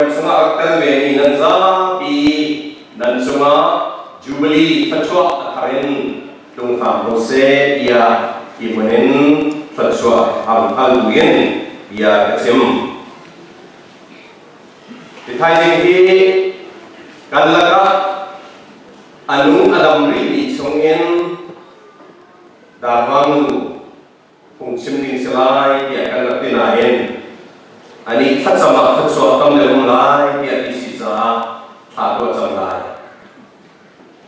Nan cungah rak tel vemi nan zapi nan cungah Jubilee thluachuah a thar in tlung hram ko seh tiah hi hmun in thluachuah a rung hal bu in bia ka chim. Hi thaizing hi kan lakah a nu a dam rih mi chung in Darmanu phungchim ding si lai tiah kan rak ti nain anih thlacam ah thluachuak tam deuh um lai tiah ti si caah thla tuah cang lai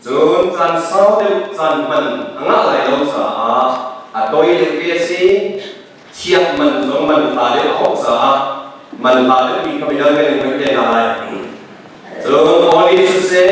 cun caan sau deuh caan hman a ngah lai lo caah a toi deuh te si thiak man zong man tha deuh a hauh caah man tha deuh mi kha vialte kan in hman te lai cun all in siseh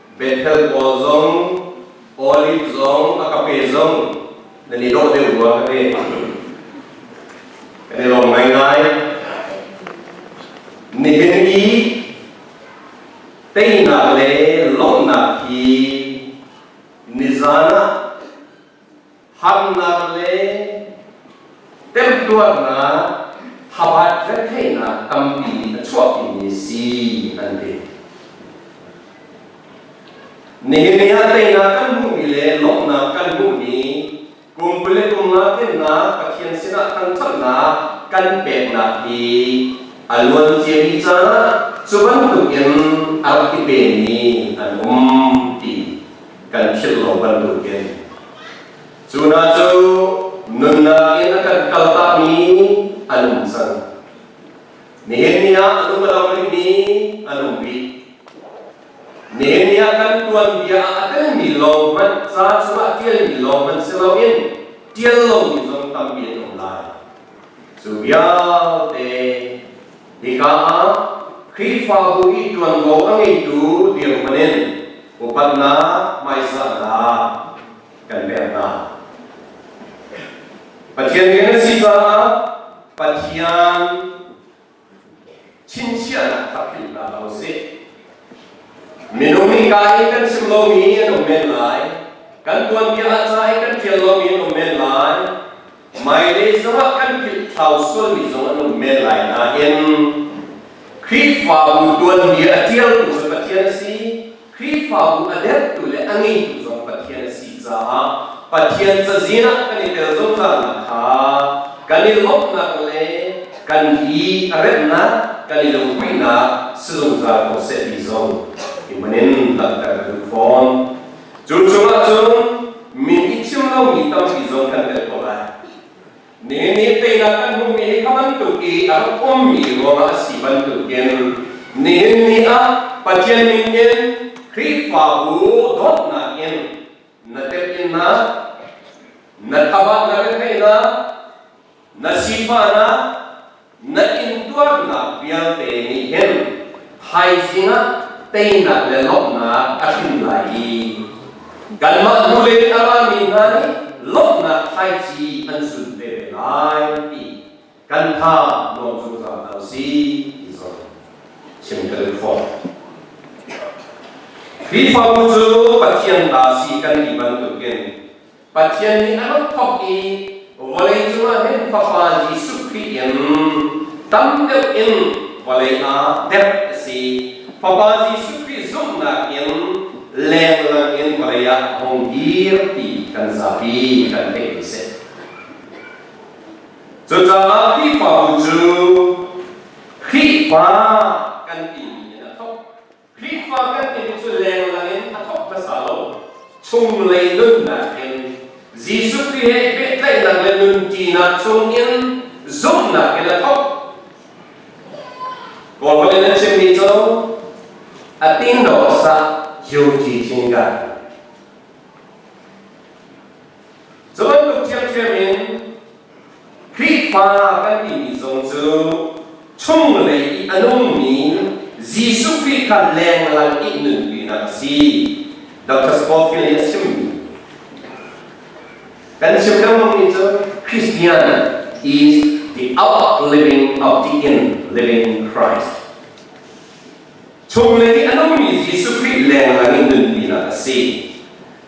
Bethel pawl zong olive zong a ka pe zong nan i dawh deuh rua ka pe. Kan i lawm ngaingai. Nihin i teinak le lawmhnak hi nizan ah Harnak le temtuarnak, thabat retheihnak tampi in a chuahpimi si an ti. Nehemiah teinak kan hmuhmi le lawmhnak kan hmuhmi pumpule kum nga kennak Pathian sinah thangṭhatnak kan peknak hi a luanciami caah cu bantukin a rak i pemi an um ti kan philh lo bantukin Cunah cu nunnak in a kan kaltakmi an um cang. Nihin ni ah lumro rimi an um rih. Nihin ni ah kan tuanbia a telmi lo hmanh, ca chungah ṭialmi lo hmanh si loin ṭial lomi zong tampi an um lai. Cu vialte hika ah Khrihfabu i ṭuanvo a ngeitu dirhman in upatnak hmaizah hna kan pek hna. Pathian min an si caah Pathian chinchiahnak takhinh hna ko sih. Minung nih ka i kan chim lomi an um men lai. Kan tuanbia ah ca i kan ṭial lomi an um men lai. Hmailei zongah kan philhthlau sualmi zong an um men lai nain Khrihfabu tuanmi a ṭialtu cu Pathian a si, Khrihfabu a dertu le a ngeitu zong Pathian a si caah Pathian cazin ah kan i tel zungzalnak kha kan i lawmhnak le kan i remnak, kan i lungpuinak si zungzal ko seh ti zong i hman in langhter ka duh fawn. Cu cungah cun mi i thim lomi tampi zong kan tel ko lai. Mi nih teinak an hmumi kha bantuk i a rak ummi ruangah a si bantukin nihin ni ah Pathian ningin Khrihfabu dawtnak in na telh in na na thabat na retheihnak Na sifahnak na intuarnak vialte nih hin thaizing ah teinak le lawmhnak a hrin lai i kanmah hnulei a rami hna nih lawmhnak thaici an sun ve lai ti kan tha nuam zungzal a si ti zong chim kan khawm Khrihfabu cu Pathian ta si kan ti bantukin Pathian nih a rak thawk i vawlei cungah hin Fapa Jesuh Khrih in tam deuh in vawlei ah derh a si. Fapa Jesuh Khrih zumhnak in lenglang in vawlei ah a hung dir ti kan zapi kan theih ding a si. Cucaah Khrihfabu cu Khrihfa kan timi in a thawk. Khrihfa kan timi cu lenglang in a thawk hmasa lo. Chunglei nun nakin Jesuh Khrih he i pehtlaihnak le nun ṭinak chungin zumhnak in a thawk. Kawl holh in a chimmi cu a tindo sah yuti thingkar. Cun lu ṭhiamṭhiam in Khrihfa kan timi zong cu chunglei i a nungmi Jesuh Khrih kha lenglang i nunpinak a si. Dr. Scofield nih a chim. Kan chim lengmangmi cu Christian is the out living, out in living Christ. Chung le nih a nungmi Jesuh Khrih lenglang in nunpinak a si.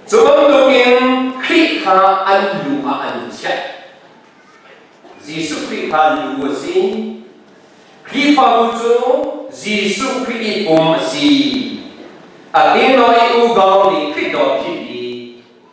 Cu bantukin Khrih kha an lu ah an chiah. Jesuh Khrih kha lu a si. Khrihfabu cu Jesuh Khrih i pum a si. A king le i u dawr nih Khrih dawr phit i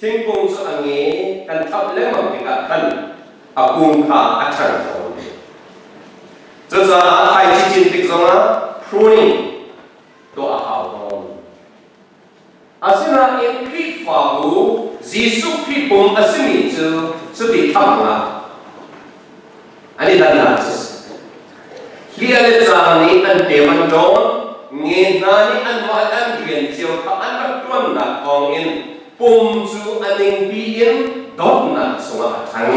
Thingkung cu a nge kan thamh lengmang tikah khan a kung kha a ṭhang tawn ve. Cucaah ai cicin tik zongah pruning tuah a hau tawn. Asinain Khrihfabu Jesuh Khrih pum a simi cu cuti thamnak an i dannak a si. Hi a le ca nih an pem an ṭawn, nge hna nih an mah an rian cio kha an rak ṭuannak thawngin pum cu a ningpi in dawtnak chungah a ṭhang.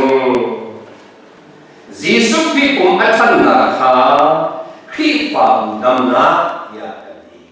Jesuh Khrih pum a ṭhannak kha Khrihfabu damnak tiah kan ti.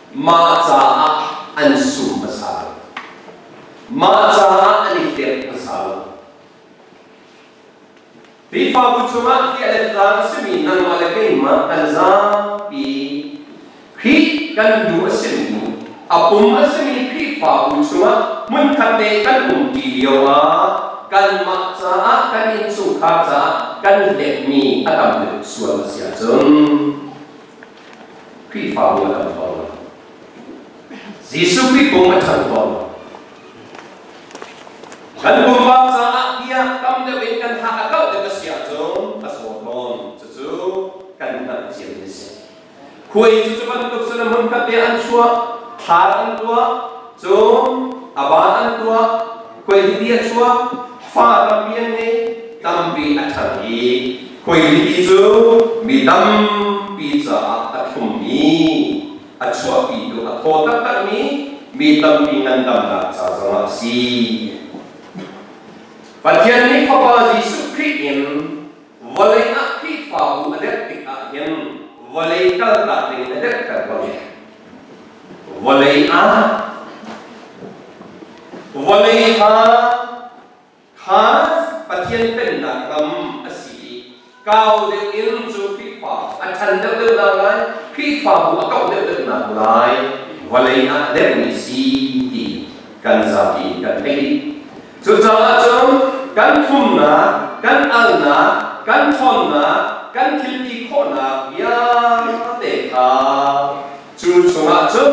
Mah caah an sum hmasa lo. Mah caah an i fek hmasa lo. Khrihfabu chungah tih a lettlang a simi nangmah le keimah kan zapi Khrih kan nu a simi, a pum a simi Khrihfabu chungah hmunkhat te kan umṭi lioah kanmah caah, kan innchungkhar caah kan hletmi a tam deuh sual a si ahcun Khrihfabu a ṭhan tawn. Jesuh Khrih kong a ṭhan tawn. Kan pumpak caah tiah tam deuh in kan hak a kauh deuh a si ahcun a sawm tawn. Cucu kan hngalh cia a si. Khuai cucu bantuk cun a hmunkhat bia an chuah, thlar an tuah, cun a ba an tuah, Kuailimi a chuak, fa tampi an ngei, tampi a ṭhang i kuailimi cu mi tampi caah a thlummi, a chuahpitu, a thaw taktakmi, mi tampi ngandamnak ca zongah a si. Pathian nih Fapa Jesuh Khrih in vawlei ah Khrihfabu a dirh tikah hin vawlei kaltak ding a dirhter ko. Vawlei ah vawlei ha kha Pathian pennak ram a si i kau deuh in cu Khrihfa a ṭhan deuhdeuh lai Khrihfabu a kauh deuhdeuh lai vawlei ah a dermi si ti kan zapi in kan theih. Cucaah cun kan thumnak, kan alnak, kan ṭhawnnak, kan thilti khawhnak vialte kha cu chungah cun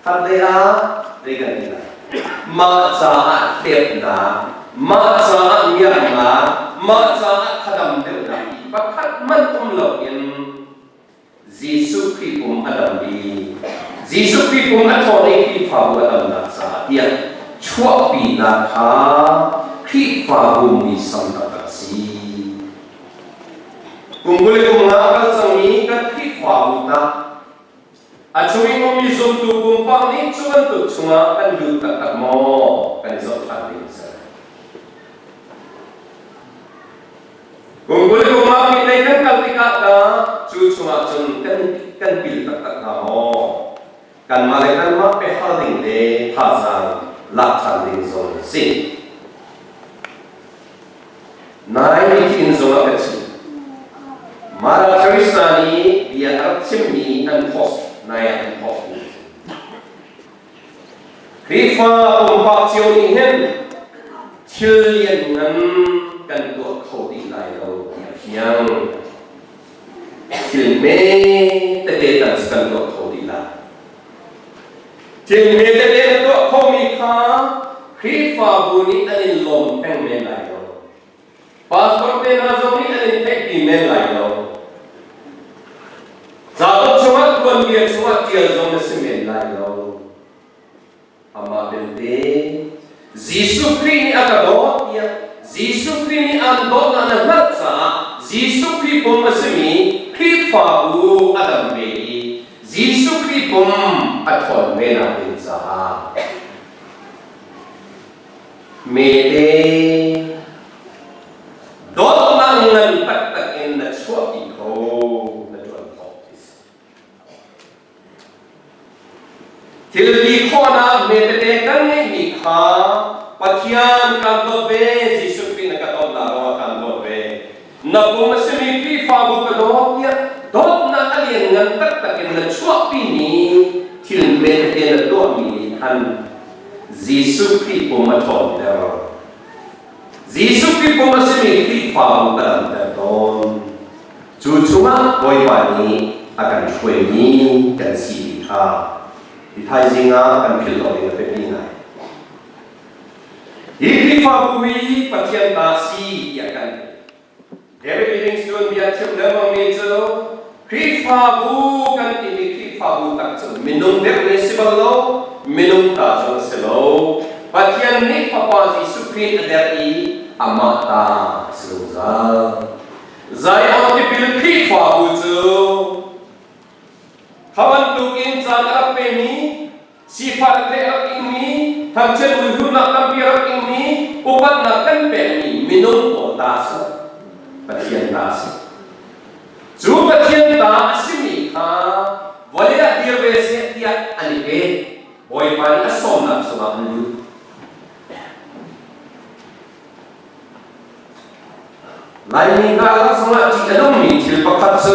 harhlei ah ei kan ei lai. Mah caah hlepnak, mah caah miaknak, mah caah thadam deuhnak ti pakhat hmanh um loin Jesuh Khrih pum a dam i Jesuh Khrih pum a ṭhawn i Khrihfabu a damnak caah tiah chuahpinak kha Khrihfabu muisam a rak si. Kum kuli kum nga a kal cangmi kan Khrihfabu tah a chungin ummi zumtu pumpak nih cu bantuk chungah kan lut taktak maw? Kan i zoh ṭhan ding a si. Kungkuli kunglaumi lei kan kal tikah dah cu chungah cun kan kan pil taktak hna maw? Kanmah le kanmah biahal ding le thazaang lak ṭhan ding zong a si. Nai nih zong a ka chim. Mother Teresa nih bia a rak chimmi an post, nai ah an post mi Khrihfa pumpak cio nih hin thil lian ngan kan tuah kho dih lai lo ti a fiang. Thil me tete tal kan tuah kho dih lai. Thil me tete na tuah khomi kha Khrihfabu nih an in lawm peng men lai lo. Pastor te hna zong nih an in theih ti men lai lo. Zaton chungah tuanbia chungah ṭial zong na si men lai lo. Amah belte, Jesuh Khrih nih a ka dawt tiah Jesuh Khrih nih aan dawtnak na hngalh caah Jesuh Khrih pum a simi Khrihfabu a dam ve i Jesuh Khrih pum a ṭhawn venak ding caah Mete dawtnak ngan taktak in na chuahpi kho na ṭuan khawh ti si. Thil ti khawhnak metete kan ngeihmi kha Pathian kan dawt ve, Jesuh Khrih na ka dawtnak ruangah kan dawt ve. na kong a simi Khrihfabu ka dawt tiah dawtnak a lianngan taktak in na chuahpimi thil vialte na tuahmi khan Jesuh Khrih pum a ṭhawnter. Jesuh Khrih pum a simi Khrihfabu ka langhter tawn. Cu chungah Bawipa nih a kan hruaimi kan si ti kha i thaizing ah kan philh awk in a biapi ngai. Hi Khrihfabu hi Pathian ta si tiah kan David Innings tuanbia chim lengmang mi cu Khrihfabu kan timi Khrihfabu tak cu minung deuh nih si bang lo minung ta zong si lo Pathian nih Fapa Jesuh Khrih a der i amah ta a si zungzal. Zion tipil Khrihfabu cu Kha bantuk in caan a rak pemi Sifah le rak ingmi, ngakchia nuhluhnak tampi rak ingmi, upatnak kan pekmi minung pawl ta a si. Pathian ta a si. Cu Pathian ta a simi kha vawlei ah dir ve seh tiah an i pe. Bawipa nih a sawmnak chungah an lut. Laimi hna rak chungah ṭih a nungmi thil pakhat cu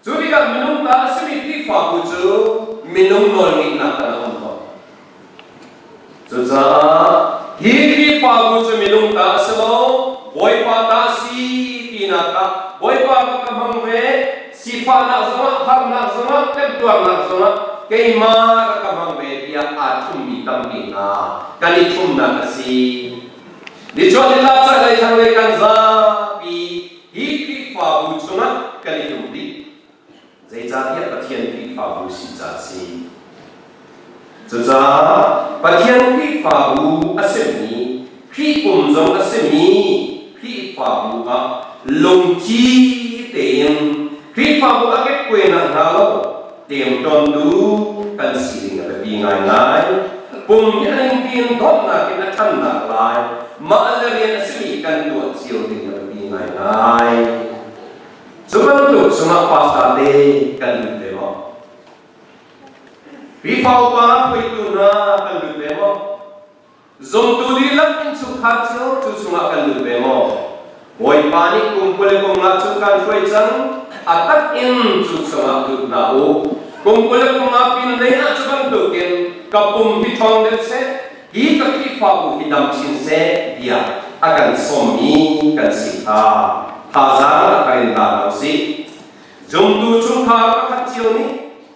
Cu tikah minung ta a simi Khrihfabu cu minung nawl ngeihnak ah a um ko. Cucaah hi Khrihfabu cu minung ta a si lo, Bawipa ta si tinak ah Bawipa ka ka hmang ve, sifahnak zongah, harnak zongah, temtuarnak zongah keimah rak ka hmang ve tiah aa thummi tampi hna kan i thumnak a si. Nichuah ni tlak chaklei thlanglei kan zapi Hi Khrihfabu chungah kan i tum dih. Zeicahtiah Pathian Khrihfabu si ca a si. Cucaah Pathian Khrihfabu a simi, Khrih pum zong a simi Khrihfabu ah lungtli tein Khrihfabu a kekkuainak hna lo Temton nu kan sining a biapi ngaingai. Pum in tiin dawtnak in a ṭhamnak lai. Mah le rian a simi kan tuah cio ding a biapi ngaingai. Cu bantuk cungah pastor te kan lut ve maw? Khrihfa upa, hruaitu hna kan lut ve maw? Zumtu dihlak innchungkhar cu cu chungah kan lut ve maw? Bawipa nih kum kul le kum nga chung kan hruai cang, a tak in cu chungah lut hna u. Kum kul le kum nga pinhlei ah cu bantukin ka pum hi ṭhawng deuh seh, hi ka Khrihfabu hi dam chin seh, tiah a kan sawmmi kan si kha thazaang ah ka in tar hna u sih. Zumtu chungkhar pakhat cio nih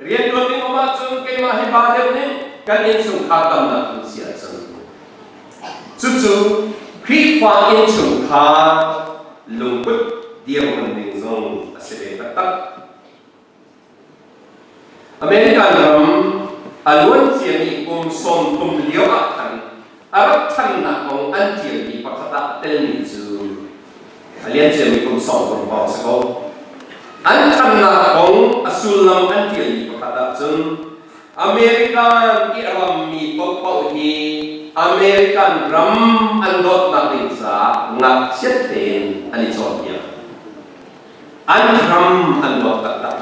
Rianṭuan ding um ahcun keimah hi pa deuh nih kan innchungkhar tamnak in si a cang. Cucu Khrihfa innchungkhar lungput dirhmun ding zong a si ve taktak. American ram a luanciami kum sawm thum lio ah khan A rak ṭhannak kong an ṭialmi pakhat ah telmi cu a lianciami kum sawm kul pawng si ko. An ṭhannak kong a sullam an ṭialmi pakhat ah cun American i a rammi paohpaoh hi American ram an dawtnak ding caah ngakchiat tein an i cawnpiak. an ram an nuam taktak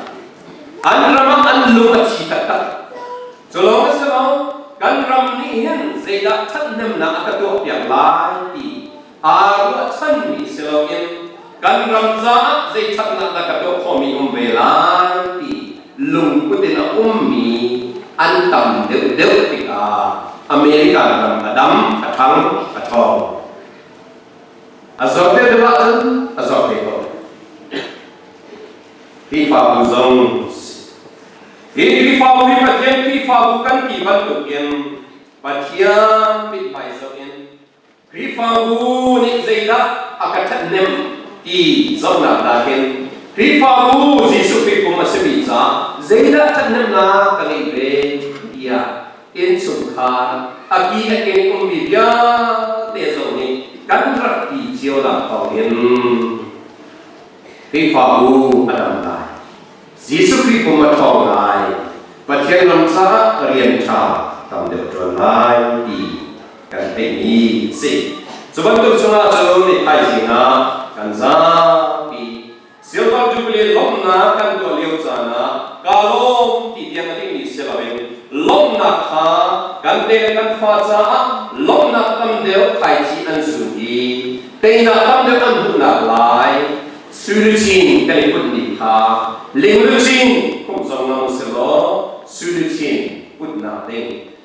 an ram ah an lung a thi taktak cu lawng a si lo kan ram nih hin zeidah ṭhathnemnak a ka tuah piak lai ti aa ruahchan mi si loin kan ram caah zei ṭhatnak dah ka tuah khomi um ve lai ti lungput in a ummi an tam deuhdeuh tikah American ram a dam a ṭhang a ṭhawng A zor te deuh ahcun a zor te ko. Khrihfabu zong hi Khrihfabu hi Pathian Khrihfabu kan ti bantukin Pathian mit hmaizawh in Khrihfabu nih zeidah a ka ṭhathnem ti zohnak nakin Khrihfabu Jesuh Khrih pum a simi caah zeidah ṭhathnemnak ka ngeih ve tiah innchungkhar, a pi le ke ummi vialte zong nih kan ratpi cio nak thawng in Khrihfabu a dam lai. Jesuh Khrih pum a ṭhawng lai. Pathian lam caah rian ṭha tam deuh ṭuan lai ti kan theihmi a si. Cu bantuk chungah cun thaizing ah kan zapi Silver Jubilee lawmhnak kan tuah lio caan ah ka lawm ti tiang a dingmi si loin lawmhnak kha kan pek le kan fa caah lawmhnak tam deuh thaici an zun i teinak tam deuh an hmuhnak lai Suduchin kan i put ni kha lingluchin pumh zong lang u sih law Suduchin putnak ding